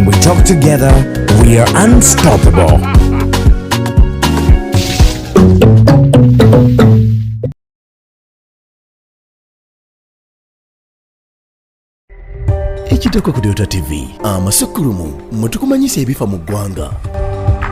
We talk together, we are unstoppable. Ekiddako ku Dota TV, amasukulumu mwe tukumanyisa ebifa mu ggwanga.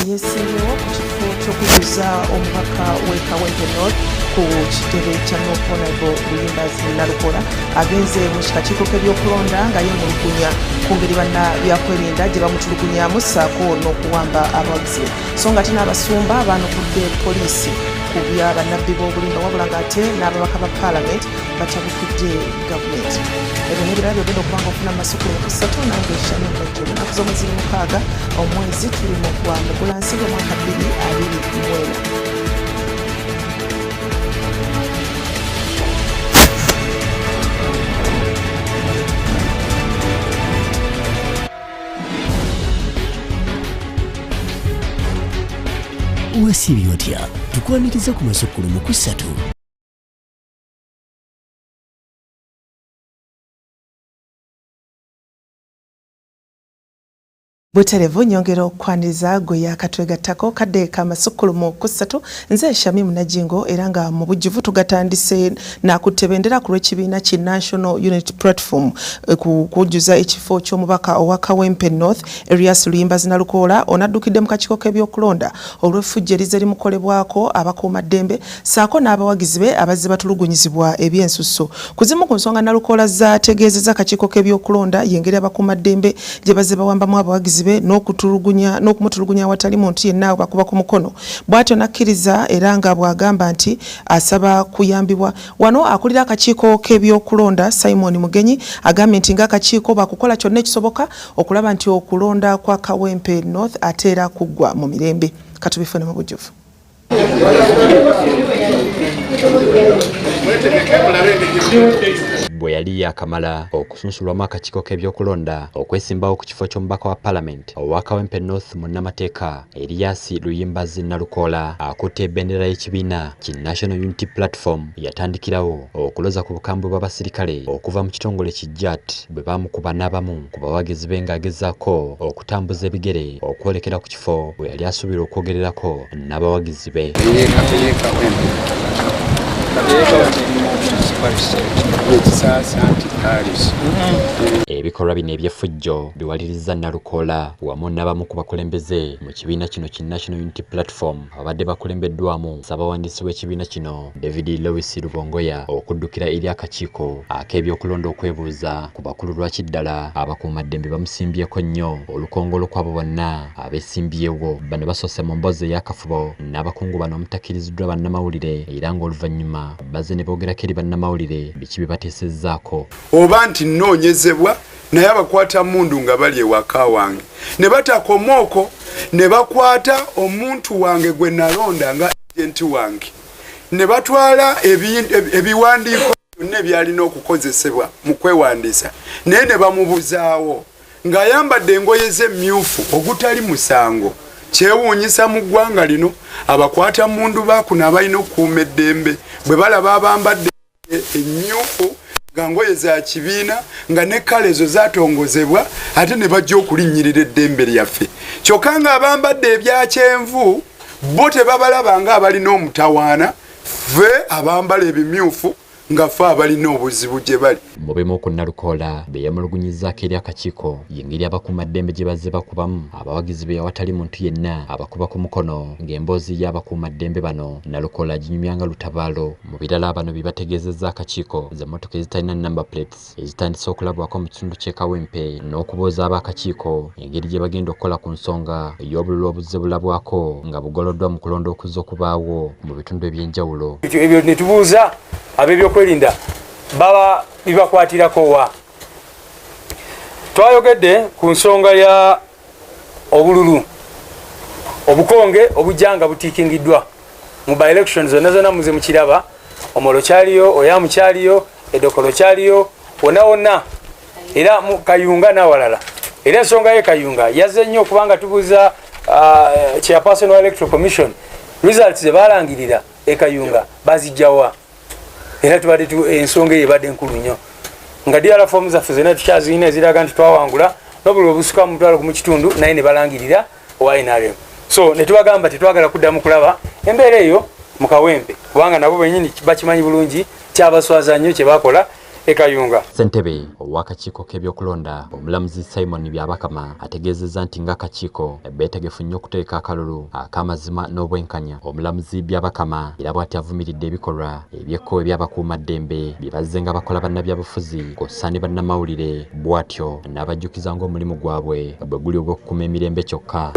eyeesimbyewo ku kifo ky'okujuza omubaka w'e kawempe north ku kitebe kya noponable luyimba's nalukola agenze mu kikakiiko k'ebyokulonda nga yeemulugunya ku ngeri banna byakwerinda gye bamutulugunyamu ssaako n'okuwamba abawagizi so nga ate n'abasumba baanukudde poliisi ku bya bannabbi b'obulimba wabula ng'ate n'ababaka ba paalamenti batabukidde gavumenti ebyo n'ebirala byogenda okubanga ofuna amasukulu mukusatu nange shani bajjo lunaku z'omweziri mukaaga omwezi tuli mu gwa mugulansi gw'omwaka bbiri abiri mwena wasiibye otya tukwaniriza ku masukulu mu kusatu buterevu nyongera okwaniriza gwe yakatwegattako kadde ka masukkulumu kusatu nze shamim najingo era nga mu bujjuvu tugatandise Nakutte bendera ku lw'ekibiina ki National Unity Platform eh, ku kujjuza ekifo ky'omubaka owa Kawempe North Erias Luyimba Zinalukoola onaddukidde mu kakiiko k'ebyokulonda olw'effujjo erizze limukolebwako abakuuma ddembe saako n'abawagizi be abazze batulugunyizibwa ebyensusso. Ku zimu ku nsonga Nalukoola zaategeezezza akakiiko k'ebyokulonda y'engeri abakuuma ddembe gye bazze bawambamu abawagizi be n'okutulugunya n'okumutulugunya awatali muntu yenna abakuba ku mukono bw'atyo n'akkiriza era nga bw'agamba nti asaba kuyambibwa. Wano akulira akakiiko k'ebyokulonda Simon Mugenyi agambye nti ng'akakiiko bakukola kyonna ekisoboka okulaba nti okulonda kwa Kawempe North ate era kuggwa mu mirembe. Katubifune mu bujjuvu. bwe yali yaakamala okusunsulwamu akakiiko k'ebyokulonda okwesimbawo ku kifo ky'omubaka wa palamenti owa kawempe north munnamateeka Erias Luyimbazi Nalukoola akutte bendera y'ekibiina ki National Unity Platform yatandikirawo okuloza ku bukambwe bw'abasirikale okuva mu kitongole ki JAT bwe baamukuba n'abamu ku bawagizi be ng'agezaako okutambuza ebigere okwolekera ku kifo we yali asuubirwa okwogererako n'abawagizi be. Ebikolwa bino eby'effujjo biwalirizza Nalukoola wamu n'abamu ku bakulembeze mu kibiina kino ki National Unity Platform ababadde bakulembeddwamu ssabawandiisi w'ekibiina kino David Lewis Lubongoya okuddukira eri akakiiko ak'ebyokulonda okwebuuza ku bakulu lwaki ddala abakuumaddembe bamusimbyeko nnyo olukongolo kwabo bonna abesimbyewo. Bano basoose mu mboozi eyakafubo n'abakungu bano omutakiriziddwa bannamawulire era ng'oluvannyuma bazze ne boogerako eri bannamawulire biki bye bateesezzaako. Oba nti nnoonyezebwa naye abakwata mundu nga bali ewaka wange ne batakoma okwo ne bakwata omuntu wange gwe nalonda nga agenti wange ne batwala ebiwandiiko byonna ebyalina okukozesebwa mu kwewandiisa naye ne bamubuzaawo ng'ayambadde engoye z'emmyufu ogutali musango kyewuunyisa mu ggwanga lino abakwata mundu baakuna abalina okukuuma eddembe bwe balaba abambadde emmyufu nga ngoye za kibiina nga ne kale ezo zatongozebwa ate ne bajja okulinnyirira eddembe lyaffe kyokka nga abambadde ebya kyenvu bo tebabalaba nga abalina omutawaana ffe abambala ebimyufu nga fe abalina obuzibu gye bali mu bimu ku nalukoola bye yamulugunyizzaako eri akakiiko yengeri abakuumaddembe gye bazze bakubamu abawagizi be awatali muntu yenna abakuba ku mukono ng'emboozi y'abakuumaddembe bano nalukoola aginyumya nga lutabaalo Mu birala bano bye bategeezezza akakiiko ze mmotoka ezitalina number plates ezitandise okulabwako mu kitundu ky'e Kawempe n'okubuuza ab'akakiiko engeri gye bagenda okukola ku nsonga y'obululu obuzze bulabwako nga bugoloddwa mu kulonda okuzze okubaawo mu bitundu eby'enjawulo. Ebyo ne tubuuza ab'ebyokwerinda baba bibakwatirako wa? Twayogedde ku nsonga ya obululu obukonge obujja nga butikingiddwa mu by election zonna zonna muze mukiraba omolo kyaliyo oyamu kyaliyo edokolo kyaliyo wonna wonna era kayunga nawalala era ensonga ye kayunga yazze nnyo okubanga tubuuza uh, chairperson wa electoral commission results zebalangirira ekayunga bazijjawa yeah. era tubadde ensonga eyo ebadde nkulu nnyo nga dira fomu zaffe zonna tukyazirina eziraga nti twawangula nobuli obusuka mumutwalo gumu kitundu naye ne balangirira owa nrm so ne tubagamba tetwagala kuddamu kulaba embeera eyo mu kawempe kubanga nabo benyini bakimanyi bulungi kyabaswaza nnyo kye bakola e Kayunga. Ssentebe ow'akakiiko k'ebyokulonda omulamuzi Simon Byabakama ategeezezza nti ng'akakiiko beetegefu nnyo okuteeka akalulu ak'amazima n'obwenkanya. Omulamuzi Byabakama era bw'ati avumiridde ebikolwa eby'ekko eby'abakuumaddembe bye bazze nga bakola bannabyabufuzi kw'ossa ne bannamawulire bw'atyo n'abajjukiza ng'omulimu gwabwe bwe guli ogw'okukuuma emirembe kyokka.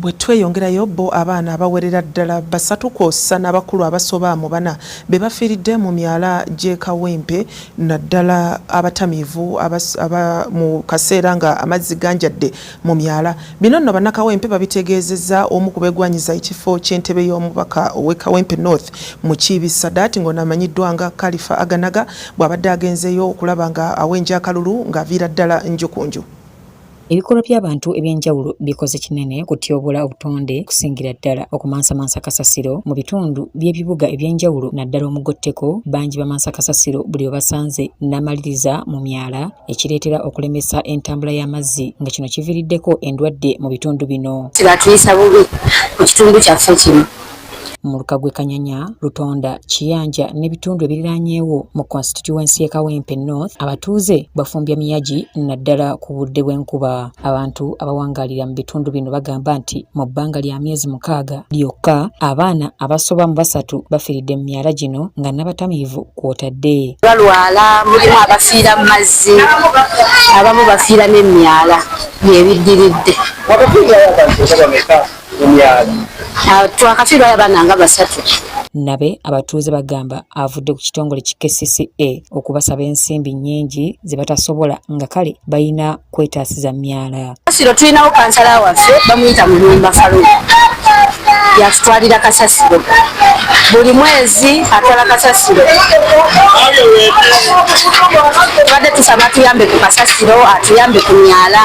Bwe tweyongerayo, bbo abaana abawerera ddala basatu kwossa n'abakulu abasoba mu bana be bafiiridde mu myala gy'e Kawempe naddala abatamiivu mu kaseera nga amazzi ganjadde mu myala. Bino nno Bannakawempe babitegeezezza omu ku beegwanyiza ekifo ky'entebe y'omubaka ow'e Kawempe North Mukiibi Sadat ng'ono amanyiddwa nga Kalifa Aganaga bw'abadde agenzeeyo okulaba nga awenja akalulu ng'aviira ddala njukunju. Ebikolwa by'abantu eby'enjawulo bikoze kinene okutyoboola obutonde okusingira ddala okumansamansa kasasiro mu bitundu by'ebibuga eby'enjawulo naddala omugotteko bangi bamansa kasasiro buli webasanze n'amaliriza mu myala ekireetera okulemesa entambula y'amazzi nga kino kiviiriddeko endwadde mu bitundu bino. Kibatuyisa bubi mu kitundu kyaffe kino muluka gwe Kanyanya, Lutonda, Kiyanja n'ebitundu ebiriraanyeewo mu konsitityuwensi y'e Kawempe North abatuuze bafumbya miyagi naddala ku budde bw'enkuba. Abantu abawangaalira mu bitundu bino bagamba nti mu bbanga lya myezi mukaaga lyokka abaana abasoba mu basatu bafiiridde mu myala gino nga n'abatamiivu kw'otadde. Balwala mulimu abafiira mu mazzi abamu bafiira n'emyala byebiddiridde. Ah, twakafiirwa abaana nga basatu nabe abatuuze bagamba avudde ku kitongole ki kcca okubasaba ensimbi nnyingi ze batasobola nga kale balina kwetaasiza myala kasiro tulinawo kansala waffe bamuyita mu nyumba falo yatutwalira kasasiro buli mwezi atwala kasasiro tubadde tusaba atuyambe ku kasasiro atuyambe ku myala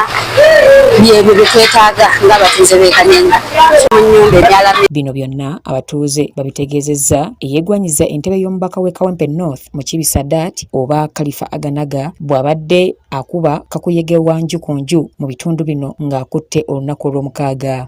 byebyo byetwetaaga ng'abatuuze b'ekanyenga mu nyumba ebyala bino byonna abatuuze babitegeezezza eyegwanyiza entebe y'omubaka w'e kawempe north mukibi sadat oba kalifa aganaga bw'abadde akuba kakuyege wa nju ku nju mu bitundu bino ng'akutte olunaku olw'omukaaga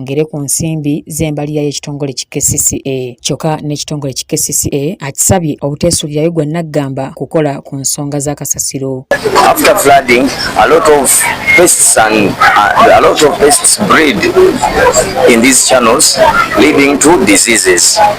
ngere ku nsimbi z'embalirira y'ekitongole ki KCCA kyokka n'ekitongole ki KCCA akisabye obuteesuulirayo gwa naggamba kukola ku nsonga za kasasiro After flooding, a lot of pests and uh, a lot of pests breed in these channels leading to diseases.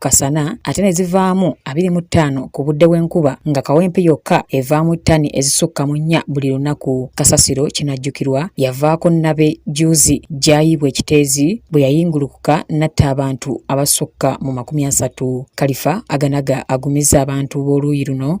kasana ate ne zivaamu abiri mu ttaano ku budde bw'enkuba nga kawempe yokka evaamu ttani ezisukka mu nnya buli lunaku. Kasasiro kinajjukirwa yavaako nnabe juuzi gy'ayiibwa ekiteezi bwe yayingulukuka n'atta abantu abasukka mu makumi asatu. Kalifa aganaga agumizza abantu b'oluuyi luno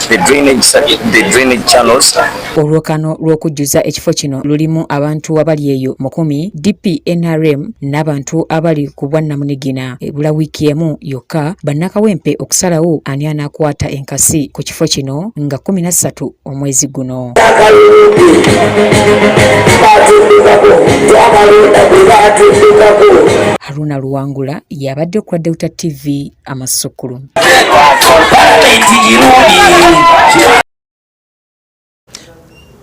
Olwokano lw'okujjuza ekifo kino lulimu abantu abali eyo mukumi DP NRM n'abantu abali ku bwannamunigina ebula wiiki emu yokka bannakawempe okusalawo ani anaakwata enkasi ku kifo kino nga kumi na ssatu omwezi guno. Haruna Luwangula yabadde ku Delta TV. amasukulu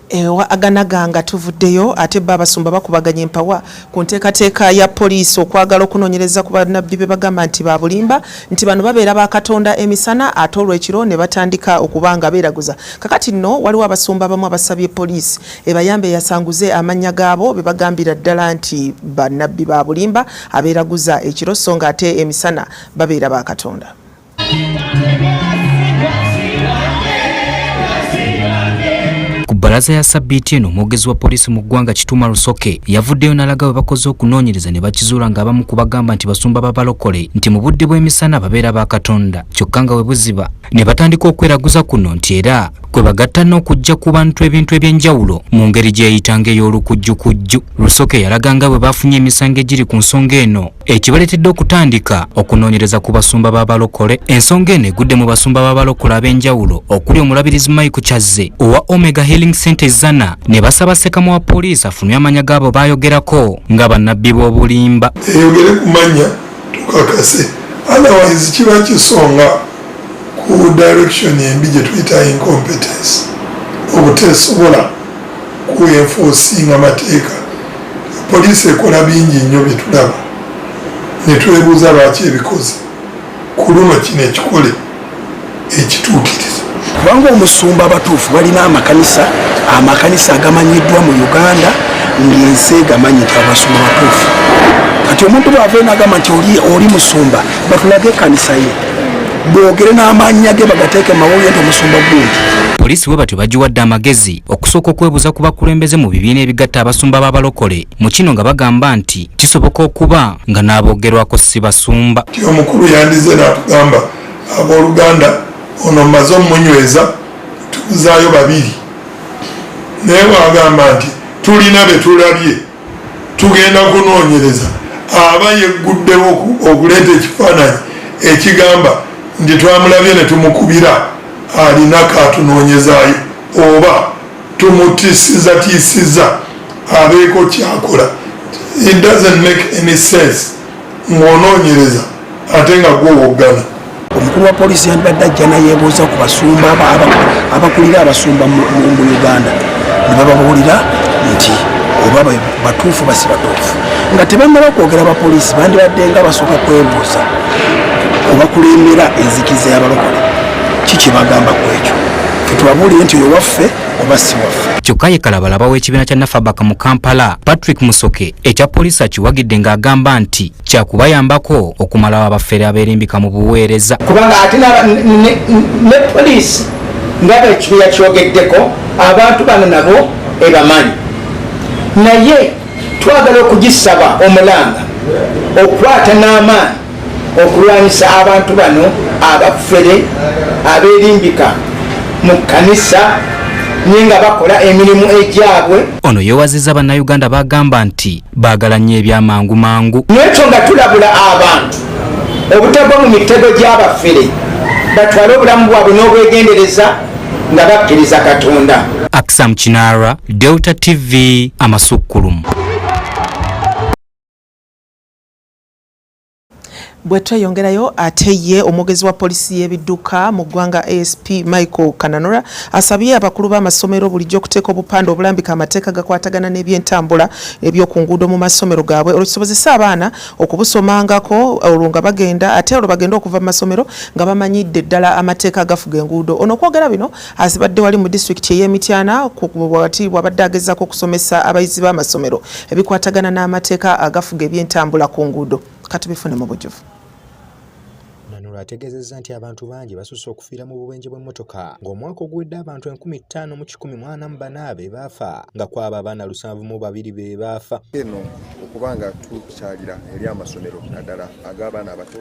ewa aganaga nga tuvuddeyo ate bo abasumba bakubaganya empawa ku nteekateeka ya poliisi okwagala okunoonyereza ku banabbi be bagamba nti babulimba nti bano babeera ba katonda emisana ate olwekiro ne batandika okuba nga beeraguza kakati nno waliwo abasumba abamu abasabye poliisi ebayambe yasanguze amannya gaabo be bagambira ddala nti banabbi babulimba Abeeraguza ekiro so nga ate emisana babeera ba Katonda. bbalaza ya sabbiiti eno omwogezi wa poliisi mu ggwanga kituuma rusoke yavuddeyo n'alaga bwe bakoze okunoonyereza ne bakizuula ng'abamu ku bagamba nti basumba babalokole nti mu budde bw'emisana babeera ba katonda kyokka nga we buziba ne batandika okweraguza kuno nti era kwe bagatta n'okujja ku bantu ebintu eby'enjawulo mu ngeri gyeyitanga ey'olukujjukujju rusoke yalaga nga bwe bafunye emisango egiri ku nsonga eno ekibaleetedde okutandika okunoonyereza ku basumba b'abalokole ensonga eno egudde mu basumba b'abalokole ab'enjawulo okuli omulabirizi mike kyazze owa omega healing center zana ne basaba sekamu wa poliisi afunwe amanya gaabo baayogerako nga bannabbi b'obulimba eyogere ku mannya tukakase otherwise kiba kisonga ku direction embi gyetuyita incompetence obutesobola ku enforcing amateeka poliisi ekola bingi nnyo byetulaba netwebuuza lwaki ebikoze ku luno kino ekikole ekituukiriza kubanga omusumba abatuufu balina amakanisa amakanisa agamanyiddwa mu uganda ngaensi egamanyi nti abasumba batuufu kati omuntu bwava enagamba nti oli musumba batulage ekanisa ye bogere n'amannya ge bagateeke mawulire nti omusumba gundi poliisi bwe batyo bagiwadde amagezi okusooka okwebuuza ku bakulembeze mu bibiina ebigatta abasumba b'abalokole mu kino nga bagamba nti kisoboka okuba nga n'abogerwako si basumba ti omukulu yandize n'atugamba abooluganda ono mmaze omunyweza tubuzaayo babiri naye waagamba nti tulina be tulabye tugenda kunoonyereza aba yegguddewo okuleeta ekifaananyi ekigamba nti twamulabye ne tumukubira alina kaatunoonyezaayo oba tumutisizatisiza abeeko kyakola it doesn't make any sense ng'onoonyereza ate nga gwowoggana omukulu wa poliisi yandibadde ajja nayebuuza ku basumba abakulira abasumba mu uganda ne bababuulira nti oba batuufu basi batuufu nga tebannaba kwogera bapoliisi bandibadde nga basooka kwebuuza obakulembera enzikiza y'abalokole ki kyebagamba ku ekyo tubabuulire nti oyo waffe oba si waffe kyokka ye kalabalaba w'ekibiina kya nafabaka mu kampala patrick musoke ekya poliisi akiwagidde ng'agamba nti kyakubayambako okumalawo abafere abeerimbika mu buweereza kubanga ate ne poliisi nga bekibiina kyogeddeko abantu bano nabo ebamanyi naye twagala okugisaba omulanga okwata n'amaanyi okulwanyisa abantu bano abafere aberimbika mu kkanisa naye nga bakola emirimu egyabwe ono yewaziza bannayuganda bagamba nti baagala nnyo ebyamangu mangu nekyo nga tulabula abantu obutagwa mu mitego gy'abafere batwale obulamu bwabwe n'obwegendereza nga bakkiriza katonda aksamu kinara delta tv amasukkulumu bwe tweyongerayo ate ye omwogezi wa poliisi y'ebidduka mu ggwanga asp michael kananura asabye abakulu b'amasomero bulijjo okuteeka obupande obulambika amateeka gakwatagana n'ebyentambula ebyoku nguudo mu masomero gaabwe olwo kisobozese abaana okubusomangako olwo nga bagenda ate olwo bagende okuva mu masomero nga bamanyidde ddala amateeka agafuga enguudo ono okwogera bino Azibadde wali mu disitulikiti ey'e Mityana wakati bw'abadde agezaako okusomesa abayizi b'amasomero ebikwatagana n'amateeka agafuga ebyentambula ku nguudo katubifune mu bujuvu Manula ategeezezza nti abantu bangi basusse okufiira mu bubenje bw'emmotoka ng'omwaka oguwedde abantu enkumi ttaano mu kikumi mu ana mu bana be baafa nga kwabo abaana lusanvu mu babiri be baafa eno okuba nga tukyalira eri amasomero naddala ag'abaana abato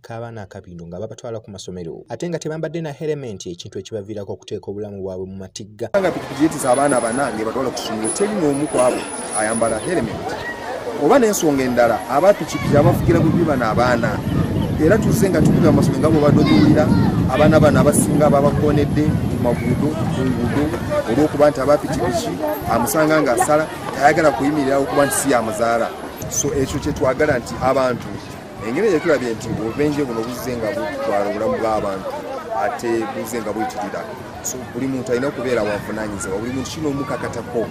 k'abaana akabindo nga babatwala ku masomero ate nga tebambadde na herementi ekintu ekibaviirako okuteeka obulamu bwabwe mu matigga nga pikipiki yetiza abaana bana ngebatwala ku ssomero teri n'omu kwabo ayambala herementi oba n'ensonga endala abapikipiki abafugira bubi bano abaana era tuzze nga tukuga amasomero nga bwebadde obiwulira abaana bano abasinga babakoonedde ku maguudo ku nguudo olw'okuba nti abapikipiki amusanga ng'asala tayagala kuyimirirawo okuba nti si yamuzaala so ekyo kyetwagala nti abantu engeri gye tulabye nti obubenje buno buzze nga butwala obulamu bw'abantu ate buzze nga bwetirira so buli muntu alina okubeera wavunanyizibwa buli muntu kino omukakatako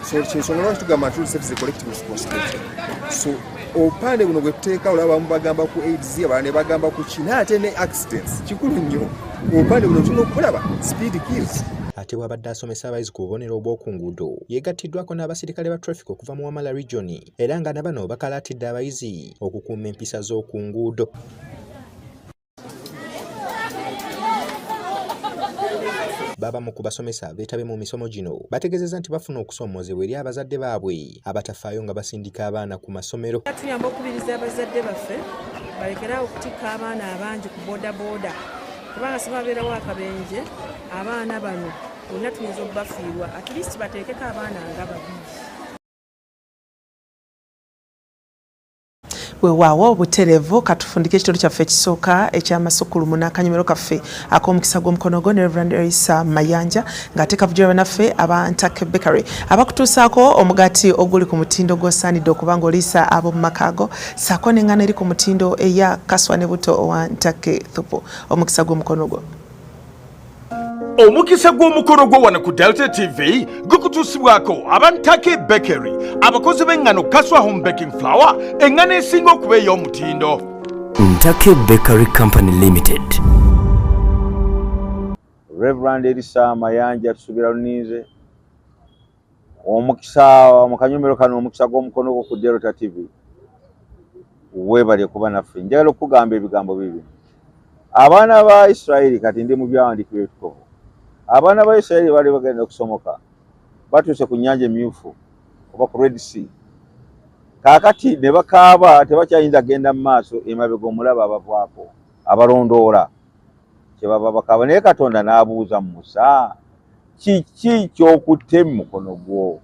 so kyensonga lwaki tugamba nti service collective responsibility so obupande buno bwetuteeka olaba bamu bagamba ku aids abalala ne bagamba ku ki naye ate ne accidents kikulu nnyo obupande buno tulina okulaba speed kills ate bwabadde asomesa abayizi ku bubonero obw'oku nguudo yeegattiddwako n'abasirikale ba traffic okuva mu wamala regioni era nga na bano bakalaatidde abayizi okukuuma empisa z'oku nguudo baba mu kubasomesa beetabe mu misomo gino bategeezezza nti bafuna okusoomoozebwa eri abazadde baabwe abatafaayo nga basindika abaana ku masomero tuyamba okukubiriza abazadde baffe balekeraawo okutikka abaana abangi ku bodaboda kubanga sibabeerawo akabenje abaana bano olina tuyinza okubafiirwa at least bateekeko abaana nga babiri wewaawo buterevu katufundika ekitundu kyaffe ekisooka ekyamasukulumu n'akanyomero kaffe ak'omukisa gw'omukono gwo ne reverand erisa mayanja ng'ate kavujira banaffe aba ntake bakery abakutuusaako omugaati oguli ku mutindo gw'osaanidde okuba ng'oliisa ab'omu maka ago saako n'engano eri ku mutindo eya kaswa ne buto owa ntake thupu omukisa gw'omukono gwo omukisa gw'omukolo gwo wano ku delta tv gukutuusibwako abantake bakery abakozi b'engano kaswa home baking flower engano esinga okuba ey'omutindo ntake bakery company limited reverand erisa mayanja tusuubira luninze omukisa mu kanyumiro kano omukisa gw'omukono gwo ku delta tv weebale kuba naffe njagala okukugamba ebigambo bibi abaana ba isirairi kati ndi mu byawandiikibwa ebitukuvu abaana ba isirairi baali bagenda okusomoka batuuse ku nnyanja emyufu oba ku red sea kaakati ne bakaaba tebakyayinza kugenda mu maaso emabega omulaba abavaako abalondoola kyebava bakaba naye katonda n'abuuza musa kiki kyokutte mu mukono gwo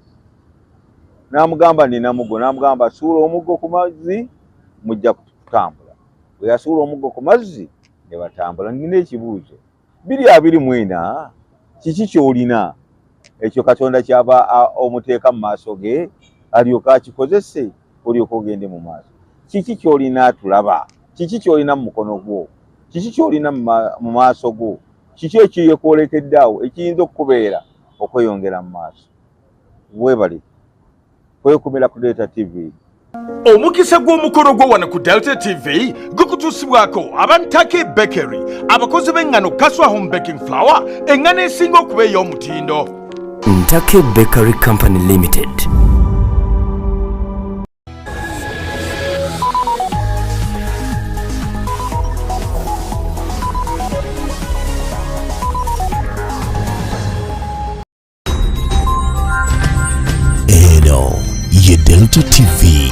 n'amugamba nina mugo n'amugamba suula omuggo ku mazzi mujja kutambula bwe yasuula omuggo ku mazzi ne batambula nina ekibuuzo biri abiri mwena kiki kyolina ekyo katonda kyava omuteeka mu maaso ge alyoka akikozese olyoka ogende mu maaso kiki kyolina atulaba kiki kyolina mu mukono gwo kiki kyolina mu maaso go kiki ekyeyekwolekedde awo ekiyinza okukubeera okweyongera mu maaso webali kwekumira ku delta tv omukisa gw'omukolo gwo wano ku delta tv gukutuusibwako abantake bakery abakozi b'engano kaswa home baking flower engano esinga okuba ey'omutindo Ntake Bakery Company Limited. Eno ye Delta TV.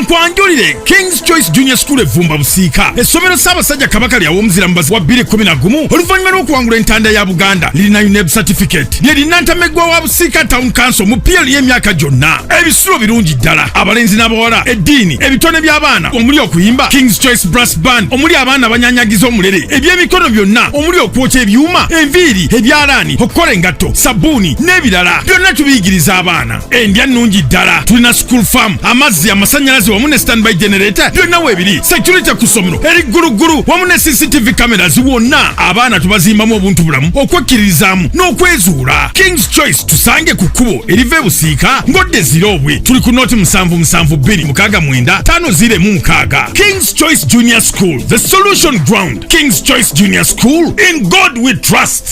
kankwanjulire kings choice junior school evumba busiika essomero ssaabasajja kabaka lya womuzira mubazi wa 211 oluvannyuma lw'okuwangula entanda ya buganda lirina uneb certificate lye linantameggwa wa busiika town council mu pl y'emyaka gyonna ebisulo birungi ddala abalenzi n'abawala eddiini ebitone by'abaana omuli okuyimba kings choice brass band omuli abaana abanyanyagiza omulere eby'emikono byonna omuli okwokya ebyuma enviiri ebyalaani okukola engatto sabbuuni n'ebirala byonna tubiyigiriza abaana endya nnungi ddala tulina school farm amazzi amasanyalaze wamu ne standby generator byonna weebiri security ku ssomero eri gguluggulu wamu ne cctv cameras wonna abaana tubazimbamu obuntu bulamu okwekkiririzaamu n'okwezuula kings choice tusange ku kkubo eriva ebusiika ng'odda eziroobwe tuli ku nooti musanvu musanvu bbiri mukaaga mwenda taano ziire mu mukaaga kings choice junior school the solution ground kings choice junior school in god we trust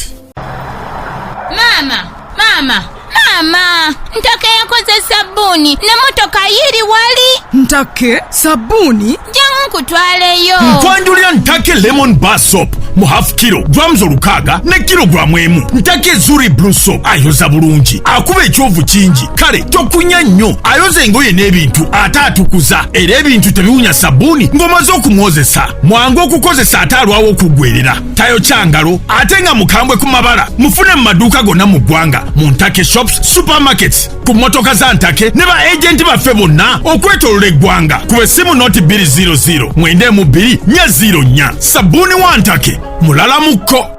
maama maama maama ntaka yakoze sabbuuni ne motoka yiri wali ntake sabbuuni jangu nkutwaleyo nkwanjulira ntake lemon bar soap mu half kilo grams olukaaga ne kilogulaamu emu ntake zuri blue soap ayoza bulungi akuba ekyovu kingi kale tokunya nnyo ayoza engoye n'ebintu ate atukuza era ebintu tebiwunya sabbuuni ng'omaze okumwozesa mwangu okukozesa ate alwawo okuggwerera tayokya ngalo ate nga mukambwe ku mabala mufune mu maduuka gonna mu ggwanga mu ntake shops supermarkets ku mmotoka za ntake ne ba ejenti baffe bonna okwetolola eggwanga ku besimu noti 200 mwendemu 2 nya 0 nya sabbuuni wa ntake mulala mukko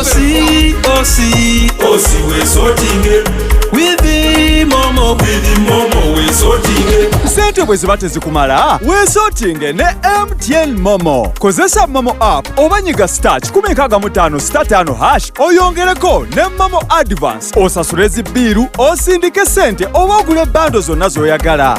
Osi, osi, osi we sotinge Wivi momo, wivi momo we sotinge Sente bwe ziba tezikumala, we sotinge ne MTN Momo. Kozesa Momo app oba nyiga star kikumi nkaaga mu ttaano sita ttaano hash oyongereko ne Momo Advance osasule zi bbiiru osindike sente oba ogule bando zonna z'oyagala.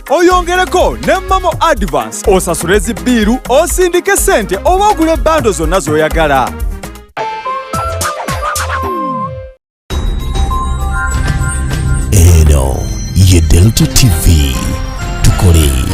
oyongereko ne mamo advance osasule zibbiiru osindike ssente oba ogule bando zonna z'oyagala eno ye delta tv tukole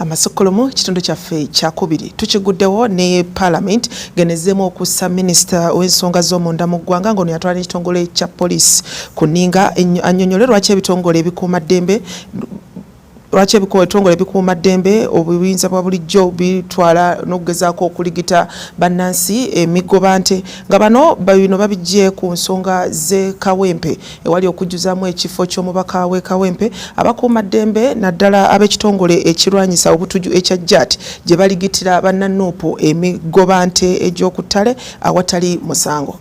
amasukulumu kitundu kyaffe kyakubiri tukiguddewo ne parliament ngenezemu okussa minisita w'ensonga z'omunda mu ggwanga ngaono yatwala n'ekitongole kya poliisi ku nninga anyonyole lwaki ebitongole ebikuuma ddembe lwaki ebitongole bikuuma ddembe obuyinza bwa bulijjo bitwala n'okugezaako okuligita bannansi emigoba nte nga bano bino babijje ku nsonga z'ekawempe ewali okujjuzamu ekifo ky'omubaka w'e Kawempe abakuuma ddembe naddala ab'ekitongole ekirwanyisa obutuju ekya JAT gye baligitira bannanuupu emigobante egy'oku ttale awatali musango.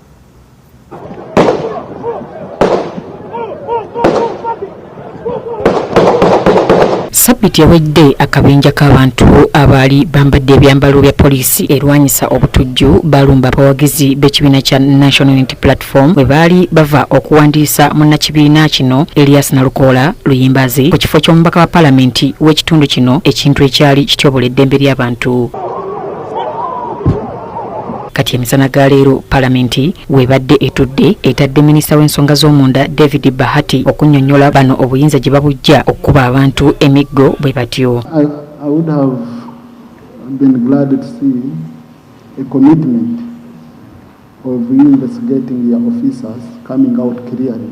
Sabbiti ewedde akabinja k'abantu abaali bambadde ebyambalo bya poliisi erwanyisa obutujju balumba abawagizi b'ekibiina kya National Unity Platform bwe baali bava okuwandiisa munnakibiina kino Elias Nalukoola Luyimbazi ku kifo ky'omubaka wa palamenti w'ekitundu kino ekintu ekyali kityobola eddembe ly'abantu. kati emisana ga leero palamenti webadde etudde etadde minisita w'ensonga z'omunda david bahati okunyonyola bano obuyinza gye babujja okukuba abantu emiggo bwe batyo of investigating your officers coming out clearly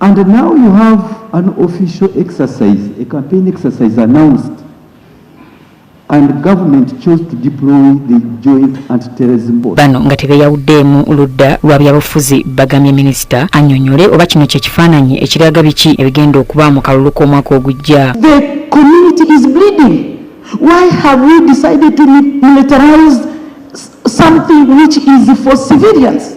And now you have an official exercise, a campaign exercise announced, and government chose to deploy the joint anti-terrorism board. Bano nga tebeyawuddeemu ludda lwa byabufuzi bagamye minisita anyonyole oba kino kye kifaananyi ekiraga biki ebigenda okuba mu kalulu k'omwaka ogujja. The community is bleeding. Why have we decided to militarize something which is for civilians?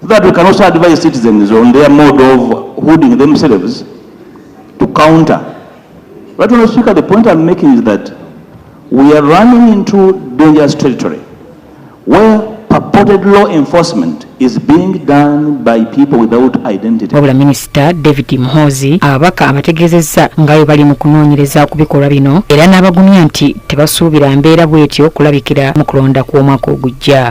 So that we can also advise citizens on their mode of holding themselves to counter. But Mr. Speaker, the point I'm making is that we are running into dangerous territory where purported law enforcement is being done by people without identity. Wabula Minister David Mhozi ababaka abategezezza nga bwe bali mu kunoonyereza ku bikolwa bino era n'abagumya nti tebasuubira mbeera bw'etyo kulabikira mu kulonda kw'omwaka ogujja.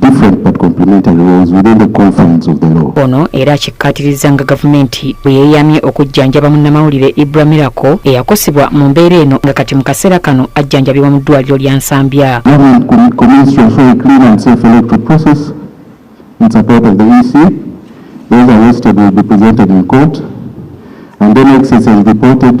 different but complementary roles within the confines of the law. Ono era akikkaatirizza nga gavumenti bwe yeeyamye okujjanjaba munnamawulire Ibra Miracle eyakosebwa mu mbeera eno nga kati mu kaseera kano ajjanjabibwa mu ddwaliro lya Nsambya. In support of the EC, those arrested will be presented in court and then excess is reported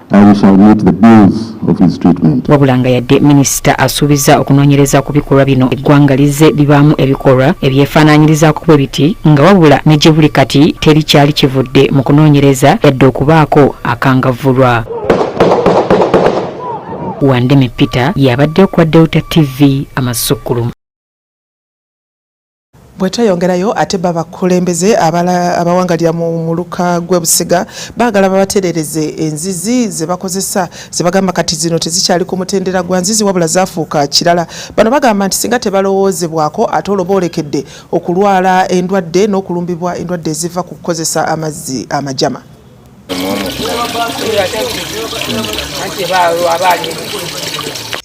wabula nga yadde minisita asuubiza okunoonyereza ku bikolwa bino eggwanga lizze libaamu ebikolwa ebyefaanaanyirizaako bwe biti nga wabula ne gye buli kati teri kyali kivudde mu kunoonyereza yadde okubaako akangavvulwa wandeme peter yabadde okwa delta tv amasukkulumu bwetweyongerayo ate babakulembeze abawangalira mu muluka gwebusiga bagala babaterereze enzizi zebakozesa zebagamba kati zino tezikyali ku mutendera gwa nzizi wabula zafuuka kirala bano bagamba nti singa tebalowoozebwako ate olwo boolekedde okulwala endwadde n'okulumbibwa endwadde eziva ku kukozesa amazzi amajama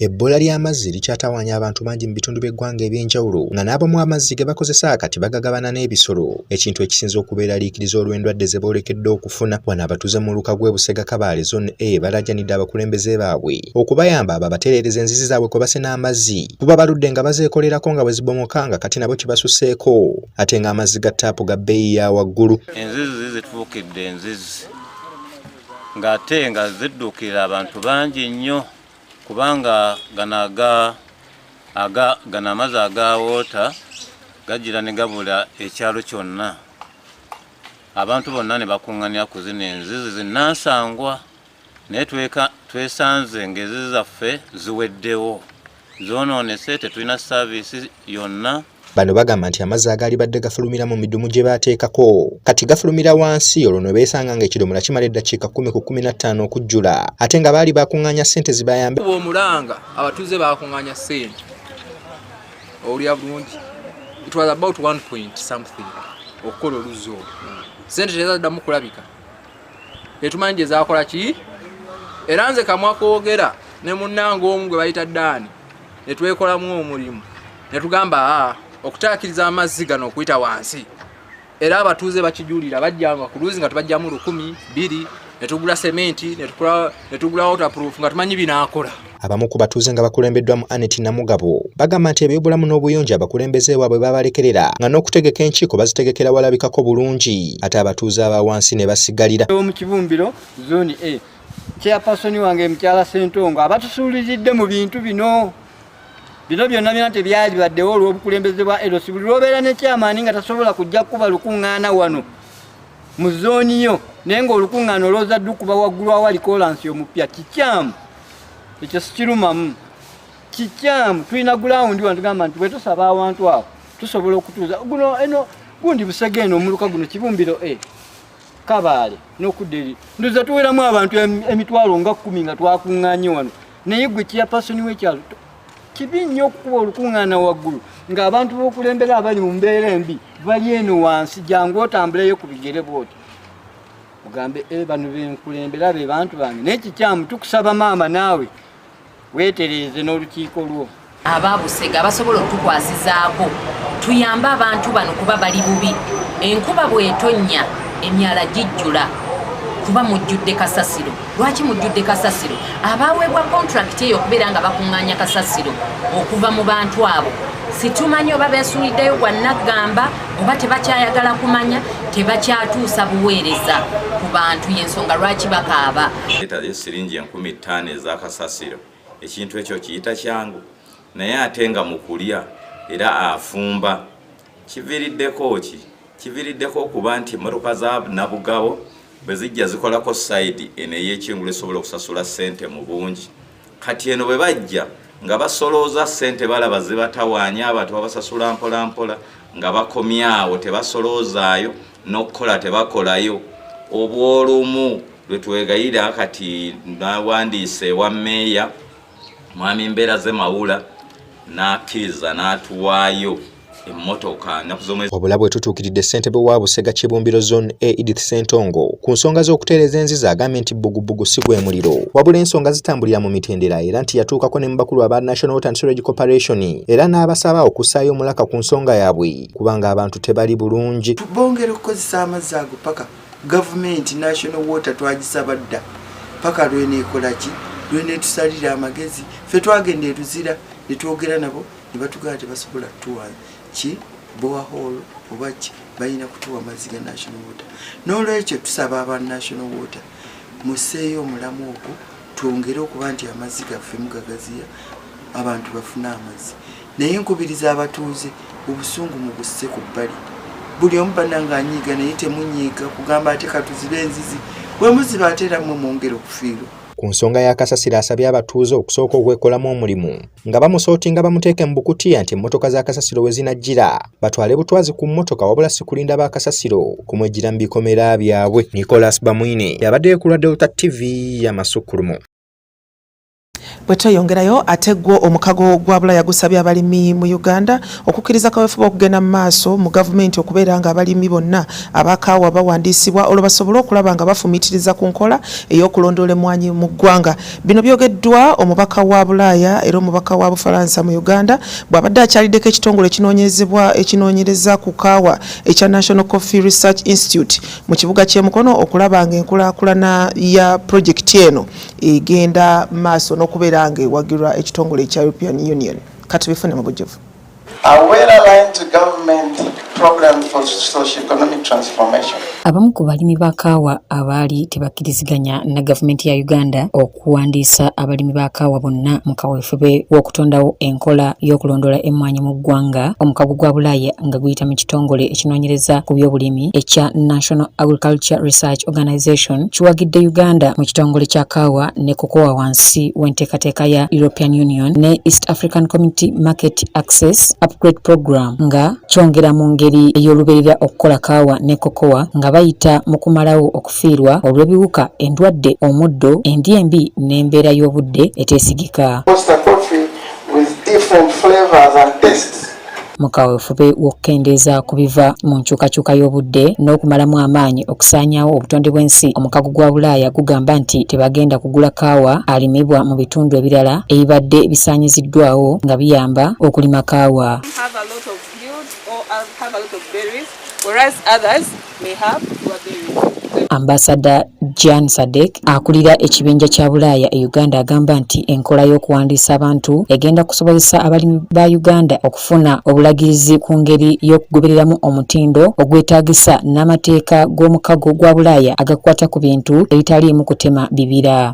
Ebbula ly'amazzi likyatawaanya abantu bangi mu bitundu by'eggwanga eby'enjawulo nga n'abamu amazzi ge bakozesa kati bagagabana n'ebisolo ekintu ekisinze okubeeraliikiriza olw'endwadde ze boolekedde okufuna wano abatuuze mu muluka gw'e Busega Kabaale Zone A balaajanidde abakulembeze baabwe okubayamba babatereereza enzizi zaabwe kwe basena amazzi kuba baludde nga bazeekolerako nga bwe zibomoka nga kati nabo kibasusseeko ate ng'amazzi ga ttaapu ga bbeeyi ya waggulu enzizi zituukidde enzizi ng'ate nga zidduukirira abantu bangi nnyo kubanga gano amazzi agawoota gajira ne gabula ekyalo kyonna abantu bonna ne bakuŋŋanira ku zino enzizi zinansangwa naye twesanze ng'ezi zaffe ziweddewo zoonoonese tetulina saaviisi yonna bano bagamba nti amazzi agaali badde gafulumira mu midumu gye baateekako kati gafulumira wansi olwo ne beesanga ng'ekidomola kimala eddakiika kkumi ku kkumi na ttaano okujjula ate nga baali bakuŋŋaanya ssente zibayambe omulanga abatuuze baakuŋŋaanya ssente owulira bulungi it was about one point something okukola oluzzi olwo ssente tezaddamu kulabika tetumanyi gyezakola ki era nze kamwa kogera ne munnange omu gwe bayita daani netwekolamu omulimu netugamba a okutaakiriza amazzi gano okuyita wansi era abatuuze bakijulira bajjanga ku luuzi nga tubajjamu lukumi bbiri netugula sementi netugula waterproof nga tumanyi binaakola Abamu ku batuuze nga bakulembeddwamu Annet Namugabo bagamba nti ebyobulamu n'obuyonjo abakulembeze baabwe babalekerera nga n'okutegeka enkiiko bazitegekera walabikako bulungi ate abatuuze aba wansi ne basigalira mu kibumbiro zooni a chairperson wange mukyala Ssentongo abatusuulizidde mu bintu bino bino byonna byona tebyalibaddewo olw'obukulembeze bwa erosi buli lwobeera ne kyamaani nga tasobola kujja kukuba lukuŋŋaana wano mu zooni yo naye ng'olukuŋŋaana olwoza ddukuba waggulu awali kolansi omupya kikyamu ekyo sikirumamu kikyamu tulina gulawundi wano tugamba nti bwetusaba awantu awo tusobola okutuuza guno eno gundi busega eno omuluka guno kibumbiro e kabaale n'okudda eri ndoza tuweramu abantu emitwalo nga kkumi nga twakuŋŋanye wano naye gwe kiyapasoni wekyalo kibi nnyo okukuba olukuŋŋaana waggulu ng'abantu b'okulembera abali mu mbeera embi bali eno wansi jangu otambuleyo ku bigere bwoti mugambe e eh, bano benkulembera be bantu bange naye kikyamu tukusaba maama naawe weetereeze n'olukiiko lwo abaabusega abasobola okutukwasizaako tuyambe abantu bano kuba bali bubi enkuba bwetonnya emyala gijjula kuba mujjudde kasasiro lwaki mujjudde kasasiro abaaweebwa kontulakiti eyo okubeera nga bakuŋŋaanya kasasiro okuva mu bantu abo situmanyi oba beesuuliddeyo gwa naggamba oba tebakyayagala kumanya tebakyatuusa buweereza ku bantu yensonga lwaki bakaaba etaze siringi enkumi ttaano ezakasasiro ekintu ekyo kiyita kyangu naye ate nga mukulya era afumba kiviiriddeko ki kiviiriddeko okuba nti emmotoka za nabugabo bwe zijja zikolako sayidi eno ey'ekingulu esobola okusasula ssente mu bungi kati eno bwe bajja nga basolooza ssente balaba zibatawaanya abantu babasasula mpolampola nga bakomyawo tebasoloozaayo n'okukola tebakolayo obwolumu lwe twegayira kati nawandiise ewa meeya mwami mbeera ze mawula n'akkiriza n'atuwaayo emmotoka nnaku z'omwezi wabula bwe tutuukiridde ssentebe wa busega kibumbiro zone a edith sentongo ku nsonga z'okutereeza enziza agambye nti bbugubugu si gwe muliro wabula ensonga zitambulira mu mitendera era nti yatuukako ne mu bakulu aba national water and storage corporation era n'abasaba okussaayo omulaka ku nsonga yaabwe kubanga abantu tebali bulungi bongera okukozesa amazzi ago paka gavumenti national water twagisaba dda paka lweneekolaki lweneetusalira amagezi fe twagenda eruzira ne twogera nabo ne batugamba tebasobola tuwa ki boahol oba ki balina kutuwa amazzi ga national water n'olwekyo tusaba aba national water museeyo omulamu ogwo twongere okuba nti amazzi gaffe mugagaziya abantu bafune amazzi naye nkubiriza abatuuze obusungu mu busse ku bbali buli omu bananga anyiiga naye temunyiiga kugamba ate katuzibe enzizi bwemuziba ate era mwe mwongere okufiirwa Ku nsonga ya Kasasiro asabye abatuuze okusooka okwekolamu omulimu nga bamusootinga bamuteeke mu bukutiya nti emmotoka za Kasasiro we zinajjira batwale butwazi ku mmotoka wabula si kulinda ba Kasasiro kumwejjira mu bikomera byabwe. Nicholas Bamwine yabaddeyo ku lwa Delta TV ya Masukkulumu. Bwe tweyongerayo ate gwo omukago gwa Bulaya gusabye abalimi mu Uganda okukkiriza kaweefube okugenda mu maaso mu gavumenti okubeera nga abalimi bonna abakaawa bawandiisibwa olwo basobole okulaba nga bafumiitiriza ku nkola ey'okulondoola emmwanyi mu ggwanga bino byogeddwa omubaka wa bulaaya era omubaka wa bufalansa mu uganda bw'abadde akyaliddeko ekitongole ekinoonyezebwa ekinoonyereza ku kaawa ekya national coffee research institute mu kibuga ky'e mukono okulaba nga enkulaakulana ya pulojekiti eno egenda maaso n'okubeera nga ewagirwa ekitongole ekya european union katubifune mu bujjuvu abamu ku balimi ba kaawa abaali tebakkiriziganya na gavumenti ya uganda okuwandiisa abalimi ba kaawa bonna mu kaweefube w'okutondawo enkola y'okulondoola emmwanyi mu ggwanga omukago gwa bulaaya nga guyita mu kitongole ekinoonyereza ku by'obulimi ekya national agriculture research organization kiwagidde uganda mu kitongole kya kaawa ne kukowa wansi w'enteekateeka ya European Union ne East African Community Market Access Upgrade Program nga kyongera mu ngeri ey'olubeerera okukola kaawa ne kokowa nga bayita mu kumalawo okufiirwa olw'ebiwuka, endwadde, omuddo, endya embi n'embeera y'obudde eteesigika. mu kaweefube w'okukendeeza ku biva mu nkyukakyuka y'obudde n'okumalamu amaanyi okusaanyaawo obutonde bw'ensi omukago gwa bulaaya gugamba nti tebagenda kugula kaawa alimibwa mu bitundu ebirala ebibadde bisaanyiziddwawo nga biyamba okulima kaawa may have to a burial. Ambasada Jan Sadek akulira ekibinja kya Bulaaya e Uganda agamba nti enkola y'okuwandiisa abantu egenda kusobozesa abalimi ba Uganda okufuna obulagirizi ku ngeri y'okugobereramu omutindo ogwetaagisa n'amateeka g'omukago gwa Bulaaya agakwata ku bintu ebitaliimu kutema bibira.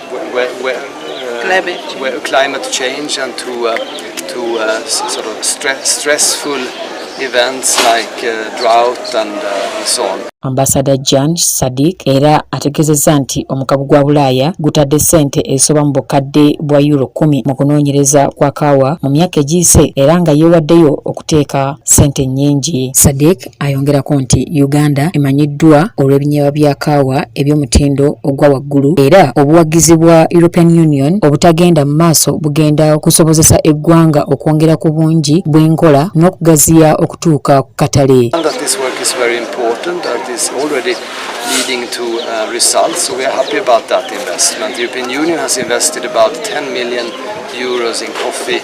climate change and to uh, to uh, sort of stre stressful events like uh, drought and uh, so on. Ambassador Jan Sadik era ategezezza nti omukago gwa Bulaaya gutadde ssente ezisoba mu bukadde bwa euro kumi mu kunoonyereza kwa kaawa mu myaka egiyise era nga yeewaddeyo okuteeka ssente nnyingi. Sadik Ayongerako nti Uganda emanyiddwa olw'ebinyeebwa bya kaawa eby'omutindo ogwa waggulu era obuwagizi bwa European Union obutagenda mu maaso bugenda okusobozesa eggwanga okwongera ku bungi bw'enkola n'okugaziya okutuuka ku katale. leading to uh, results. So we are happy about that investment. The European Union has invested about 10 million euros in coffee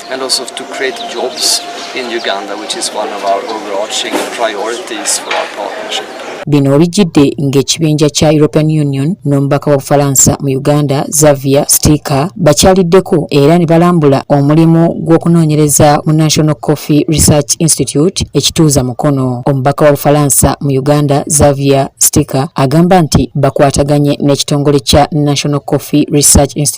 and also to create jobs in Uganda, which is one of our overarching priorities for our partnership. Bino bijjidde ng'ekibinja kya European Union n'omubaka wa Bufalansa mu Uganda Xavier Stika bakyaliddeko era ne balambula omulimu gw'okunoonyereza mu National Coffee Research Institute ekituuza mukono. Omubaka wa Bufalansa mu Uganda Xavier Stika agamba nti bakwataganye n'ekitongole kya National Coffee Research Institute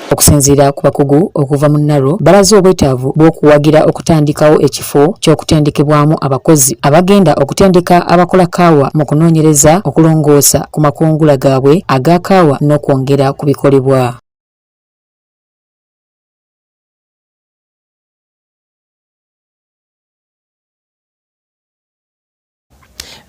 Okusinziira ku bakugu okuva mu NARO balaze obwetaavu bw'okuwagira okutandikawo ekifo ky'okutendekebwamu abakozi abagenda okutendeka abakola kaawa mu kunoonyereza okulongoosa ku makungula gaabwe aga kaawa n'okwongera ku bikolebwa.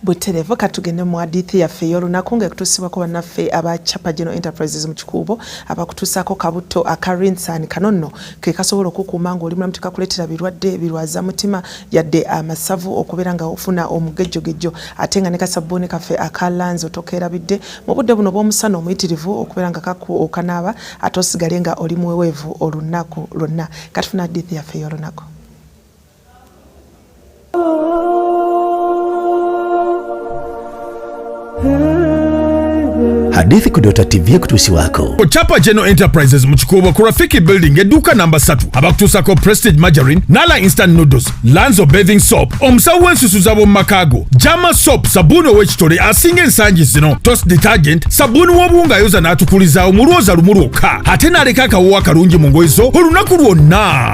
buterevu katugende mu hadithi yaffe ey'olunaku nga ekutuusibwako bannaffe aba chapa general enterprises mu kikuubo abakutuusaako kabutto aka rinsan kano nno ke kasobola okukuuma ng'oli mulamu tekakuleetera birwadde birwaza mutima yadde amasavu okubeera nga ofuna omugejjogejjo ate nga ne kasabbuuni kaffe aka lanzi otokeerabidde mu budde buno bw'omusana omuyitirivu okubeera nga okanaaba ate osigale nga oli muweweevu olunaku lwonna katufuna hadithi yaffe ey'olunaku hadithi kudota tv ekutusi wako kuchapa general enterprises mukikuubo ku rafiki building edduuka namba 3 abakutuusako prestige margarine nala instant noodles lanzo bathing soap omusawo w'ensusu zabo mu makaago jama soap sabuuni ow'ekitole asinga ensangi zino tos detergent sabuuni w'obuwunga ayoza n'atukulizaawo mu lwoza lumu lwokka ate n'aleka akawoowo akalungi mu ngoyi zo olunaku lwonna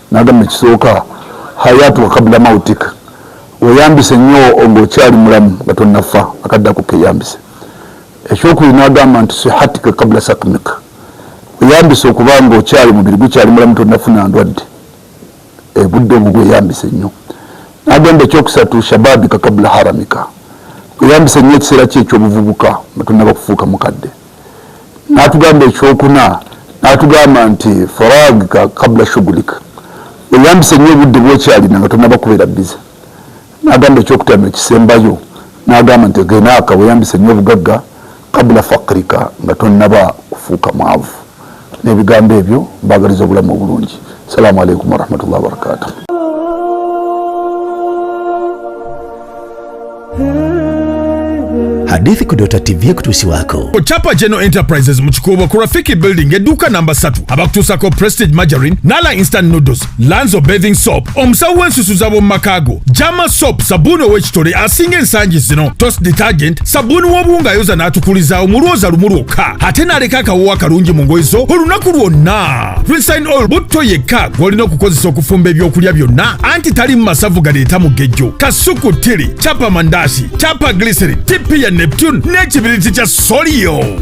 Nagamba ekisooka hayatu kabla mautik, weyambise nnyo ng'okyali mulamu nga tonnafa, akaddako keyambise. Ekyokubiri nagamba nti sihatika kabla sakmik, weyambise okuba ng'okyali mubiri gukyali mulamu tonnafuna ndwadde ebudde obwo gweyambise nnyo. Nagamba ekyokusatu shababika kabla haramika, weyambise nnyo ekiseera kyo eky'obuvubuka nga tonnaba kufuuka mukadde. natugamba ekyokuna natugamba nti faragika kabula shugulika weyambise nyo obudde bwokyalina nga tonaba kubeera bize nagamba ekyokutano ekisembayo nagamba nti genaka weyambise nyo obugagga kabula fakrika nga tonaba kufuuka mwavu n'ebigambo ebyo mbagaliza obulamu obulungi salaamu aleikum warahmatullahi wabarakatuh hadithi ku Dota TV ekutuusiwaako ku Chapa General Enterprises mu Kikuubo ku Rafiki Building edduuka namba 3 abakutuusako Prestige Margarine n'ala Instant Noodles lanzo bathing soap omusawo w'ensusu z'ab'omu maka go jama soap sabbuuni ow'ekitole asinga ensangi zino tos detergent sabbuuni w'obuwunga ayoza n'atukulizaawo mu lwoza lumu lwokka ate n'aleka akawowo akalungi mu ngoye zo olunaku lwonna rinsin oil butto yekka gw'olina okukozesa okufumba ebyokulya byonna anti talimu masavu galeeta mugejjo kasuku tili capa mandasi capa glycerin tipi ya neptune n'ekibiriti kya soliyo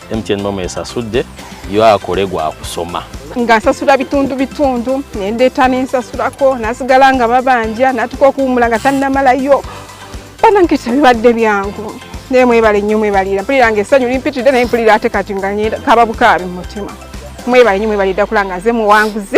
MTN Mom esasudde yo akole gwa kusoma nga nsasula bitundu bitundu nendeeta nensasulako nasigala nga babanja natuka okuwumula nga tannamalayo banange tebibadde byangu naye mwebale nnyo mwebalira mpulira nga essanyu limpitidde naye mpulira ate kati nga kaba bukaabi mu mutima mwebale nnyo mwebalira kulanga nze muwanguzi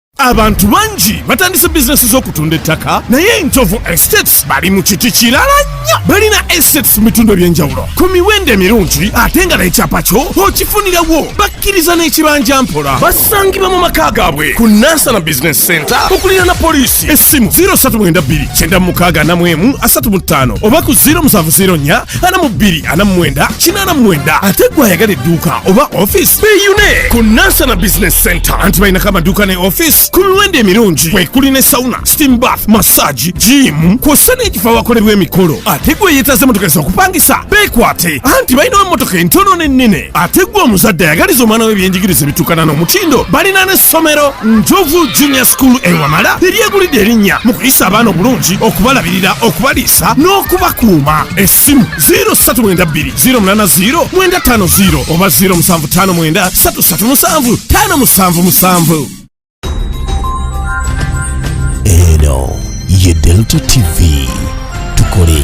abantu bangi batandise bizinesi z'okutunda ettaka naye enjovu estates bali mu kiti kirala nnyo balina estates mu bitundu eby'enjawulo ku miwendo emirungi ate nga n'ekyapa kyo okifunirawo bakkiriza n'ekibanja mpola basangibwa mu maka gaabwe ku nansana business center okulira na poliisi essimu 032 9 3 45 oba ku 0704 ana mu bbiri ana mu mwenda kinaana mu mwenda ate gwe ayagala edduuka oba ofiisi beeyune ku nansana business center anti balinako amaduuka ne ofiisi ku miwendo emirungi kwekuli ne sauna steam bath massage jiimu kw'ossa n'ekifo awakolerwa emikolo ate gwe yeetaze motoka ez'okupangisa beekwate anti balinawo emmotoka entono n'ennene ate gwe omuzadde ayagaliza omwana we ebyenjigiriza ebitukana n'omutindo balina n'essomero njovu junior school ewamala eryegulidde erinnya mu kuyisa abaana obulungi okubalabirira okubaliisa n'okubakuuma essimu 072 oba 0759 eno ye delta tv tukole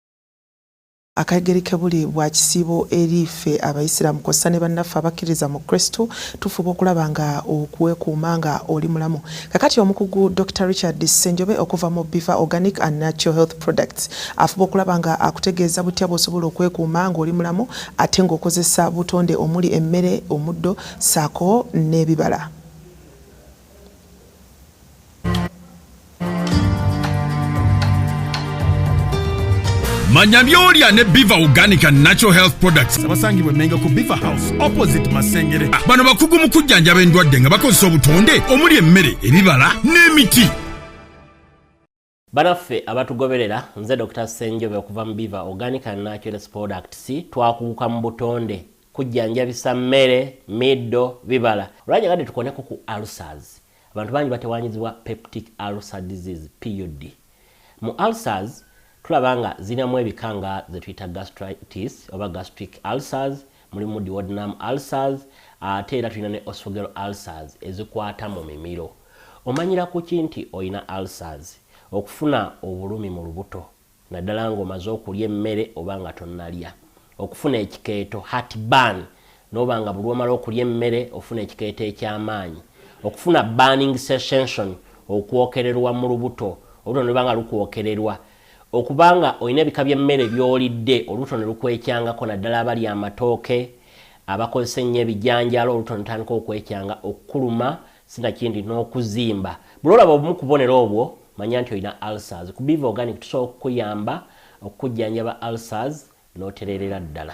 Akagereke buli bwa kisiibo eri ffe abayisiraamu kw'ossa ne bannaffe abakkiririza mu Kristu tufuba okulaba nga okuwekuuma nga oli mulamu. Kakati omukugu Dokita Richard Ssenjobe okuva mu Biva Organic and Natural Health Products afuba okulaba nga akutegeeza butya bw'osobola okwekuuma ng'oli mulamu ate ng'okozesa butonde omuli emmere, omuddo ssaako n'ebibala. manya byolya ne biva organic and natural health products abasangibwa emenga ku biva house opposite masengere ah, bano bakugu mu kujjanjaba endwadde nga bakozesa obutonde omuli emmere ebibala n'emiti Banaffe abatugoberera nze Dokita Ssenjobe okuva mu Biva Organic and Naturals Products twakuguka mu butonde kujjanjabisa mmere, middo, bibala. Olwanyagadde tukoneko ku ulcers. Abantu bangi batewanyizibwa peptic ulcer disease, PUD. Mu ulcers tulaba nga zirinamu ebika nga zetuyita gastritis oba gastric ulcers, mulimu duodenum ulcers ate era tulina ne osogero ulcers ezikwata mu mimiro omanyira kuki nti olina ulcers okufuna obulumi mu lubuto naddala ng'omaze okulya emmere oba nga tonnalya okufuna ekikeeto hat ban noba nga bulwomala okulya emmere ofuna ekikeeto eky'amaanyi okufuna burning session okwokererwa mu lubuto olubuto nolubanga lukwokererwa Okuba nga olina ebika by'emmere by'olidde olubuto ne lukwekyangako naddala abalya amatooke, abakozesa ennyo ebijanjaalo olubuto ne lutandika okwekyanga, okukuluma sinakindi n'okuzimba. Buli lw'olaba obumu ku bubonero obwo manya nti olina ulcers. Ku Biva Organic tusobola okukuyamba okukujjanjaba ulcers notererera ddala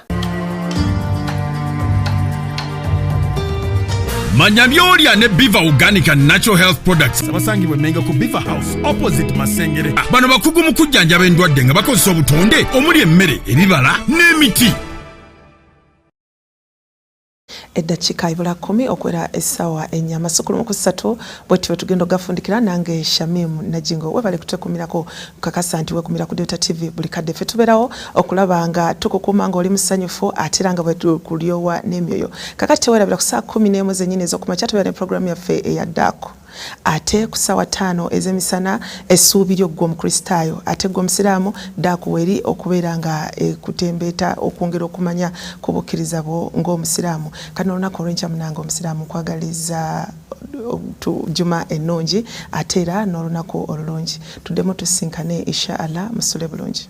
manya byolya ne biva organic and natural health products abasangibwa emenga ku biva house opposite masengere ah, bano bakugu mu kujjanjaba endwadde nga bakozesa obutonde omuli emmere ebibala n'emiti eddakiika ibula kkumi okuwera essaawa ennya amasukulu mu kusatu bwetyo bwetugenda okugafundikira nange shamim najingo webale kutwekumirako kakasa nti wekumira ku delta tv buli kadde ffe tubeerawo okulaba nga tukukuuma nga oli musanyufu ate era nga bwetukulyowa n'emyoyo kakati tewerabira ku saa kumi n'emu zennyini ez'okumakya tubeera ne programu yaffe eyaddaako ate ku ssaawa ttaano ez'emisana essuubi lyo ggwe omukristaayo ate ggwe omusiraamu daakuwa eri okubeera nga ekutembeeta okwongera okumanya ku bukkiriza bwo ng'omusiraamu kati n'olunaku olwenkya munange omusiraamu nkwagaliza juma ennungi ate era n'olunaku olulungi tuddemu tusinkane insha allah musule bulungi